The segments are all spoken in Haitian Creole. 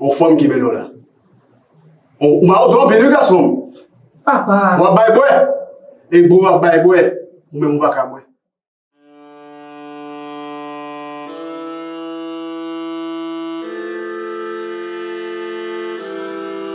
On fanm ki bel ola. On, ou mawozo anpil wi gason. Sa pa. Wap bay bwe. E bro wap bay bwe. Ou menm ou pa ka bwe.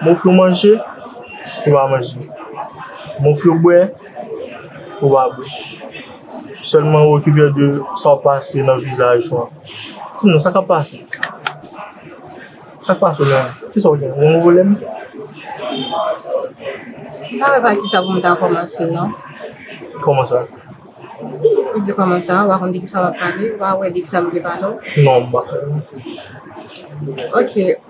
M ofri w manje, ou va manje. M ofri w bwè, ou va bwè. Sèlman ou okipe w de sa w pase nan vizaj ou an. Di m sa k ap pase? Sa k pase w menm? Ki sa w gen? Ou vole m? M pa wè pa ki sa pou m ta kòmanse non. Kòman sa? Ou di kòman sa, ou pa konn de ki sa w ap pale, ou pa wè de ki sa m vle pale w? Non, m pa wè. Ok.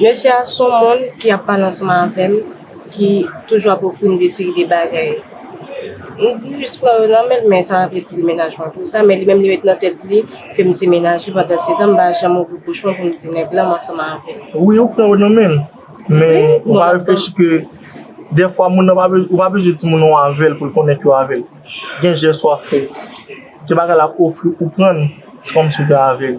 Mesye a son moun ki ap pale ansanm avèm ki toujou ap ofrim de seri de bagay m jis pran yo nan menl men sa pa vle di li mennaj mwen pou sa men li menm li met nan tèt li kem se mennaj li pandan se tan m pa janm ouvri bouch mwen poum di nèg lan m ansanm avèl. Wi ou pran yo nan menl men ou pa reflechi ke dèfwa moun nan ou pa bezwen di moun nan w avèl poul konnen ke w avèl gen jès wap fè gen bagay lap ofri ou prann se kòmsi ou te avèl.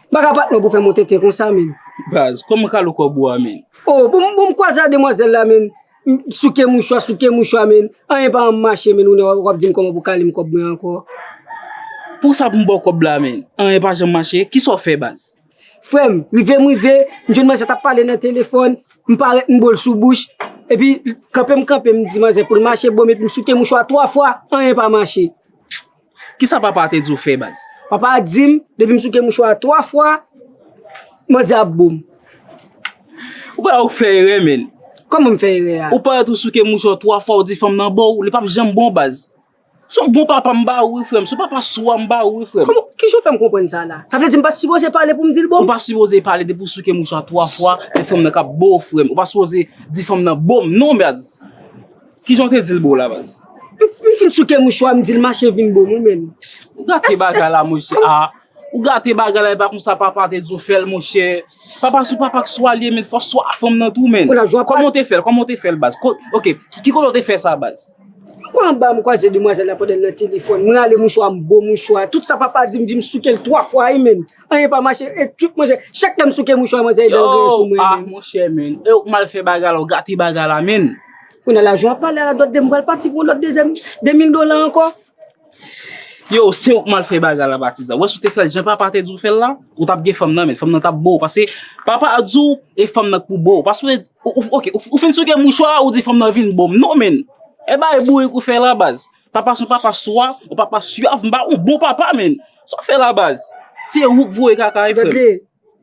Baka pat mwen pou fè mwen tenten konsa menn. Baz, kòman ka lou kò bwa menn? Oh, bon m bon m kwaze a demwazèl la menn, m souke mouchwa, souke mouchwa menn, anyen pa janm mache menn, ou nan wap di m kòman pou kale m kòb mwen ankò. Pou sa pou m ba w kòb la menn, anyen pa janm mache, kisa w fè baz? Frè m, rive m rive, m jwenn manzè tap pale nan telefòn, m parèt m bo l sou bouch, epi kanpe m kanpe m di manzè pou l mache bo m epi m souke mouchwa 3 fwa, anyen pa mache. Kisa papa a te di w fè baz? Papa a di m depi m souke mouchwa a 3 fwa, manzè a ap bo m. Ou pa wè ou fè erè menn? Kòman m fè erè a? Ou parèt ou souke mouchwa w 3 fwa ou di fanm nan bo w, li pap janm bon baz. Se yon bon papa m ba ou wi frè m, se yon papa swa m ba ou wi frè m. Kòman, kijan w fè m konprann sa la? Sa vle di m pa sipoze pale pou m di l bo m? Ou pa sipoze pale depi w souke mouchwa 3 fwa, se fanm nan k ap bo w frè m. Ou pa sipoze di fanm nan bo m non baz. Kijan w te di l bo la baz? M fin souke mouchwa m di l mache vin bo m wi menn. Ou gate bagay la monchè ah. Ou gate bagay la e pa konsa papa te di w fè l monchè. Papa sou papa k swa l ye menn fò w swa fanm nan tou menn. Kòman w te fè l? Kòman w te fè l baz? Ok ki kote w te fè sa baz? M pran anba m kwaze demwazèl la pandan l nan telefòn. M rale mouchwa m bo mouchwa. Tout sa papa di m di m souke l 3 fwa wi menn. Anyen pa mache e tchuip manzè. Chak lèm souke mouchwa manzè e dèl genyen sou mwen men. Yo ah monchè men. E ou mal fè bagay la ou gate bagay la men. Kounye la jan wap pale la dòt de m pral pati pou yon lòt dezyèm 2000 dola ankò. Yo se ou k mal fè bagay la patizan. Wè si w te fè l jan papa te di w fè l la, ou tap gen fanm nan men. Fanm nan tap bo w pase papa a di w e fanm nan k pou bo w. Pase w ok ou fin souke mouchwa ou di fanm nan vin bo m. Non men. E bay bourik ou fè la baz. Papa son papa swa ou papa syav mba ou bon papa menn sa w fè la baz se ou k voye kaka e frè m. Gade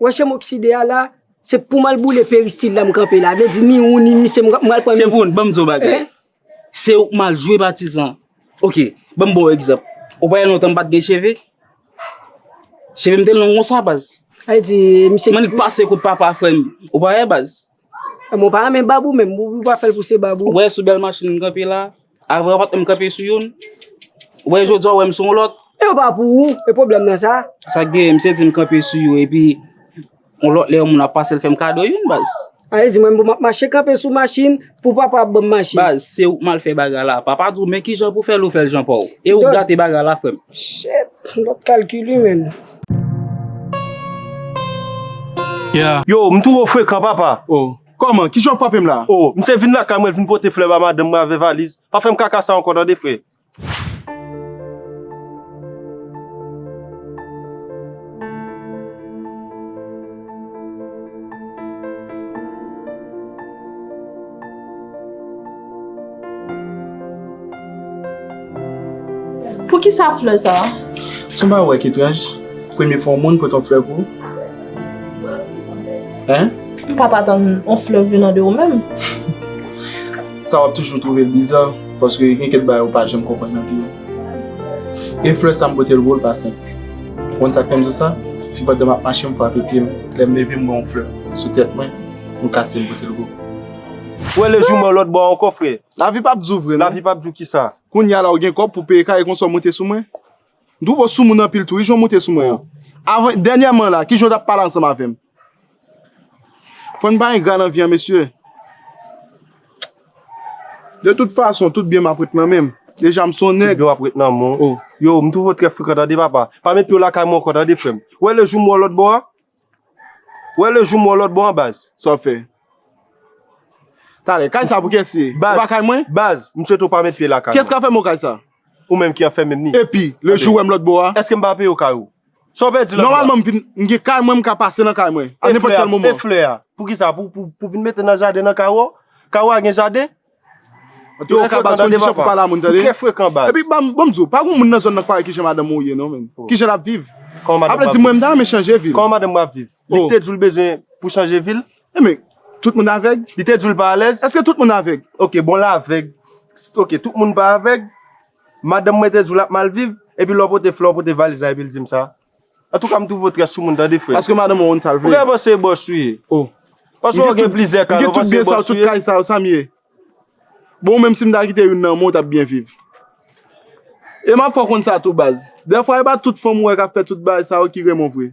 wè chanm okside a la se poum al boule peristil la m kanpe la vle di ni ou ni misye m pral pran nou. Bon banm di w yon bagay se ou k mal jwe patizan ok banm ba w egzanp ou pa wè lontan m pat gen cheve cheve m te long konsa baz men li pase kout papa frè m ou pa wè baz. Mwen pa renmen bab ou menm ou pa fè l pouse bab ou. Ou wè sou bèl machin m kanpe la. Avè w pat menm kanpe sou youn, wè jodi a w wè m sou yon lòt. E yo pa pou ou, e pwoblèm nan sa? Sa k genyen, misye di m kanpe sou yo epi yon lòt lè yon moun ap pase l fè m kado youn baz. Sa vle di mwen m pou m ap mache kanpe sou machin pou papa ap ban m machin. Baz, se ou k mal fè bagay la. Papa di w men kijan pou w fè l ou fè l jan pa w. E ou k gate bagay la frè m. Shit, m pap kalkil wi menm. Yo, m two frekan papa. Kòman? Kijan w kwape m la? O, m se vin lakay mwen vin pote flè ba madanm mwen avè valiz. Pa fè m kaka sa ankò tande frè. Poukisa flè sa a? Son pa wè ketranj premye fwa yon moun pote yon flè pou ou? Hein? M pat atann yon flè venan de ou menm. Sa wap toujou twouve l biza paske gen kèk bagay ou pa janm konprann nan vi w. E flè sa m pote l pou ou l pa senp. Ou konn sa k fè m di w sa? Se pandan map mache m frape pye m, lè m leve m wè yon flè sou tèt mwen, m kase m pote l pou ou. Ou wè lejou mwen lòt bò a ankò frè? Lavi pap di w vre non. Lavi pap di w kisa? Kounye a la ou gen kòb pou peye kay e konsa w monte sou mwen? M twouve w soumoun anpil tou wi jan w monte sou mwen an. Avan, dènyèman la, kijan w t ap pale ansanm avè m? Fò n pa engra nan vi an mesye. De tout fason, tout byen m ap ret nan men m. Deja m s on nèg. Tout byen w ap ret nan men w. Yow, m twouve w trè frekan tande papa. Pa met pye w lakay mwen ankò tande frè m. Ou wè lejou m wè w lòt bò a? Wè le jou m wè w lòt bò an baz. Sa w ap fè? Talè, kay sa pou kès li ye? E pa kay mwen? Baz, m swete w pa met pye lakay mwen. Kès ka fè m ou kay sa? Ou menm ki anfèmem ni. Epi, le jou w wè m lòt bò a? Èske m pa peye w kay ou? Sa w pèdi lòt bò a? Nòmalman m vin, m gen kay mwen m ka pase nan kay mwen. A nenpòt kèl moman. E flè a? Pou ki sa? Pou vin mete nan jaden nan kay ou? Kay ou a gen jaden? Yo fre kan tande papa Yo tre frekan baz. Epi banm diw pa gon moun nan zòn nan k pa wè kijan madanm ou ye non menn. Kijan lap viv. Aple di mwen m ta renmen chanje vil. Kòman madanm ou ap viv. Li te diw li bezwen pou chanje vil. Enben tout moun avèg. Li te diw li pa alèz. Eske tout moun avèg. Ok bon l avèg. Ok tout moun pa avèg. Madanm mwen te diw lap mal viv. Epi lè w pote flè w pote valiz la epil dim sa. Antouka m twouve w trè soumoun tande frè m. Paske madanm ou konn sa l vle. Ou genlè panse e bòs ou ye. Oh. Paske ou gen plizyè kay la ou panse e bòs ou ye. Ou gen tout byen sa yo, tout kay sa yo, sa m ye? Bon ou menm si m ta kite youn nan men w t ap byen viv. E m ap fè w konn sa tou baz. Dèfwa e pa tout fanm ou wè k ap fè tout bagay sa yo ki renmen w vre.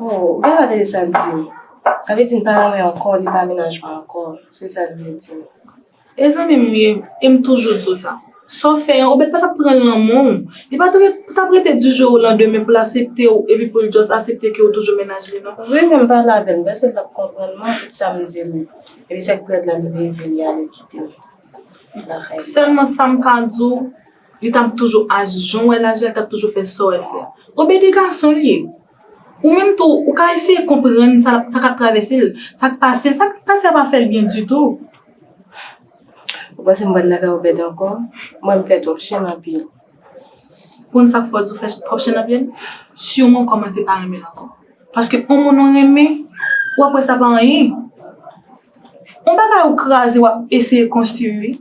Oh, gade bagay sa l di m. Sa vle di l pa renmen ankò, li pa mennaj mwen ankò. Se sa l vle di m. E zanmi m ye, e m toujou di w sa. Sa w fè an, Obed pa t ap pran lanmò w. Li pa t ap rete di jou olandemen pou l asepte w epi pou l just asepte ke w toujou mennaj li non. Wi, men m pale avè l, m panse l t ap konprann mwen tout sa m di l. Epi sèk prèt la li leve li ale kite m lakay li. Sèlman sa m ka di w, Li tap toujou aji jan w wè l aji a, li tap toujou fè sa w wè l fè a. Bon bebe gason li ye. Ou menm tou, ou ka eseye konprann sa sa k ap travèse l, sa k pase l, sa k pase a pa fè l byen ditou. Ou panse m pral nan kay Obed ankò? Mwen m fè twòp chenn anpil. Ou konn sa k fè w di ou fè twòp chenn anpil? Siwman ou kòmanse pa renmen l ankò. Paske on moun ou renmen, w ap wè sa pa anyen. On bagay ou kraze wap eseye konstwi wi.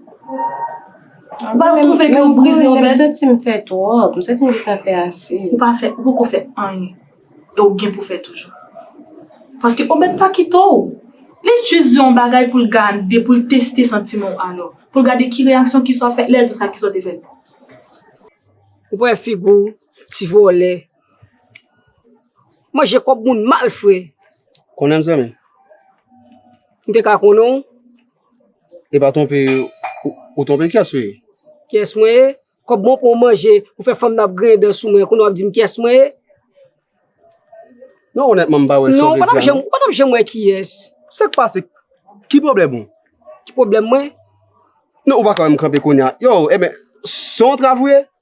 Ou pa twouve ke ou brize yon bèt? M santi m fè twòp, m santi m gentan fè ase. Ou pa fè, ou poko fè anyen. E ou gen pou fè toujou. Paske on bèt pa kite w. Li jis di w on bagay pou l gade, pou l teste santiman w alò. Pou l gade ki reyaksyon ki sa w fè, lè l di sa ki sa w te fè. Ou pran figi w, ti vòlè. Manje kob moun mal fre. Konnenm zanmi. M te ka konnen w. E pa twonpe ou twonpe kyes ou ye? Kyes mwen ye? Kob mwen pou manje ou fè fanm nan ap griyen dan sou mwen kounye wap dim kyes mwen ye? Non onètman m pa wè sa w vle di a non. Ou pa tap janm wè kiyès. Sak pase? Ki pwoblèm ou? Ki pwoblèm mwen? Non ou pa ka wè m kanpe kounye a. Yow, enben, se yon trav ou ye?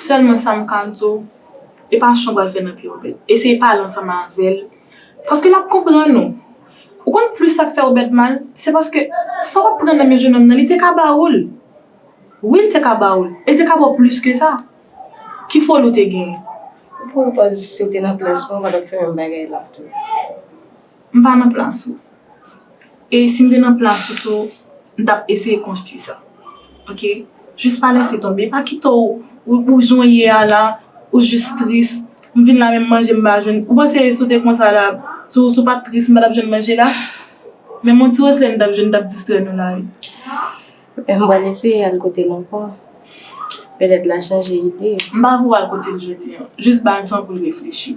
Sèlman sa m ka di w, e pa chan w pral fè nan pye Obed. Eseye pale ansanm avè l, paske l ap konprann ou. Ou konn plis sa k fè Obed mal? Se paske sa w ap pran nan men jenòm nan, li te ka ba ou l. Wi, li te ka ba ou l, e li te ka ba w plis ke sa. Ki foli ou te genyen? Ou pran pòz si w te nan plas mwen, ou pa t ap fè menm bagay la tou. M pa nan plas ou. E si m te nan plas ou tou, m t ap eseye konstwi sa. Ok? Jis pa lese tonbe. Pa kite w ou jan w ye a la, ou jis tris. M vin la menm manje m pa jwenn. Ou panse si w te konsa la, si w pa t tris, m pa t ap jwenn manje la? Menm yon ti reflè m t ap jwenn, m t ap distrè nou la wi. M pral eseye al kote l ankò. Petèt l a chanje ide. M pa vle w al kote l jodi an. Jis ba l tan pou l reflechi.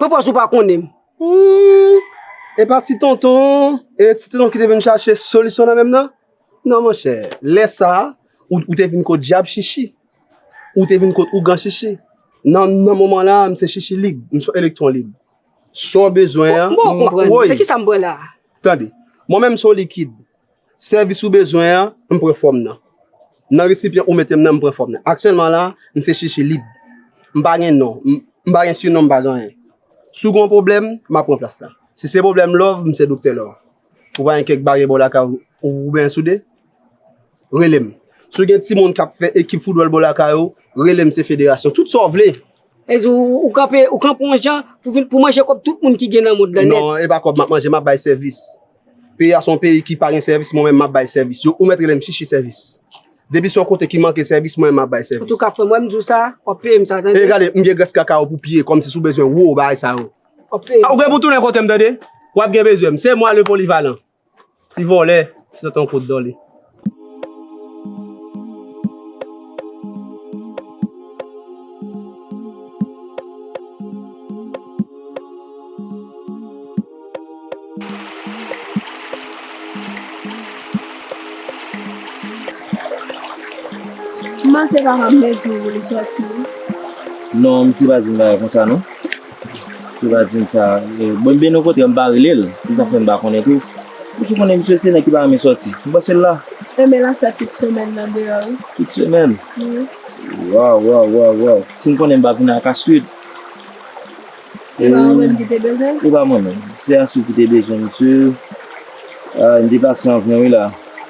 Papa sou pa konnen m. Humm e pa ti tonton e ti tonton ki te vin chache solisyon nan menm nan? Non monchè lè sa ou te vin kot djab chichi ou te vin kot ougan chichi nan moman la m se chichi lib m son elektwon lib sa w bezwen an m woy tande mwen menm m son likid Sèvis ou bezwen an, m pran fòm nan. Nan resipyan ou mete m nan, m pran fòm nan. Aktyèlman la, m se chichi lib. M pa gen non, m pa gen sinon, m pa gen anyen. Si w gen yon pwoblèm, m ap pran plas la. Si se pwoblèm lòv, m se doktè lòv. Ou pa gen kèk baryè bò lakay ou oubyen soude? Rele m. Si w gen timoun k ap fè ekip foutbòl bò lakay ou, rele m se federasyon. Tout sa w vle, Vle di ou kanpe yon jan pou manje kòb tout moun ki gen nan mond lan nèt? Non, e pa kòb m ap manje, m ap bay sèvis. Peyi a se yon peyi ki pa gen sèvis, mwen menm m ap bay sèvis. Yo ou mèt rele m chichi sèvis. Depi se yon kote ki manke sèvis, mwen menm m ap bay sèvis. Antouka frè m, wè m di w sa, w ap peye m sa tande. E gade, m gen grès kaka ou pou pye, kòmsi si w bezwen wou bagay sa yo. W ap peye m. Ou gen pou tounen kote m tande. W ap gen bezwen m. Se mwa le polivalan. Ti vòlè, ti tonton kout dòle. Kouman se pa nan mèt yo vòlè sòti wi. Non misye pa di m bagay konsa non. Tibatin sa bon byen nou kontre mpa relel se sak fèm pa konnen tou misye konnen misye se nèg ki pa renmen sòti mpansel la. Enben lap fè tout semèn nan deyò wi. Tout semèn? Wi. Waw waw waw waw sim konnen mpa vin ak Aswid. Epa ou menm kite bezwen? Epa mwen menm se Aswid kite bezwen misye. Aah mte pase anvan wi la.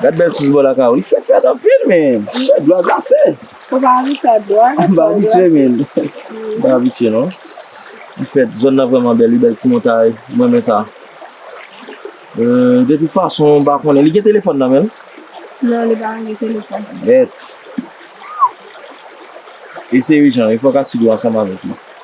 Gad bèl sous bò lakay ou. Li fèt fèt anpil men. Chè dwa glase. Ou pa abitye ak dwa. M pa abitye men. M pa abitye non. Li fèt. Zòn nan vrèman bèl wi. Bèl ti montay. M renmen sa. De tout fason m pa konnen. Li gen telefòn nan men l? Non li pa gen telefòn. Bèt. E se ijan. E fòk Asid ou ansanm avèk li.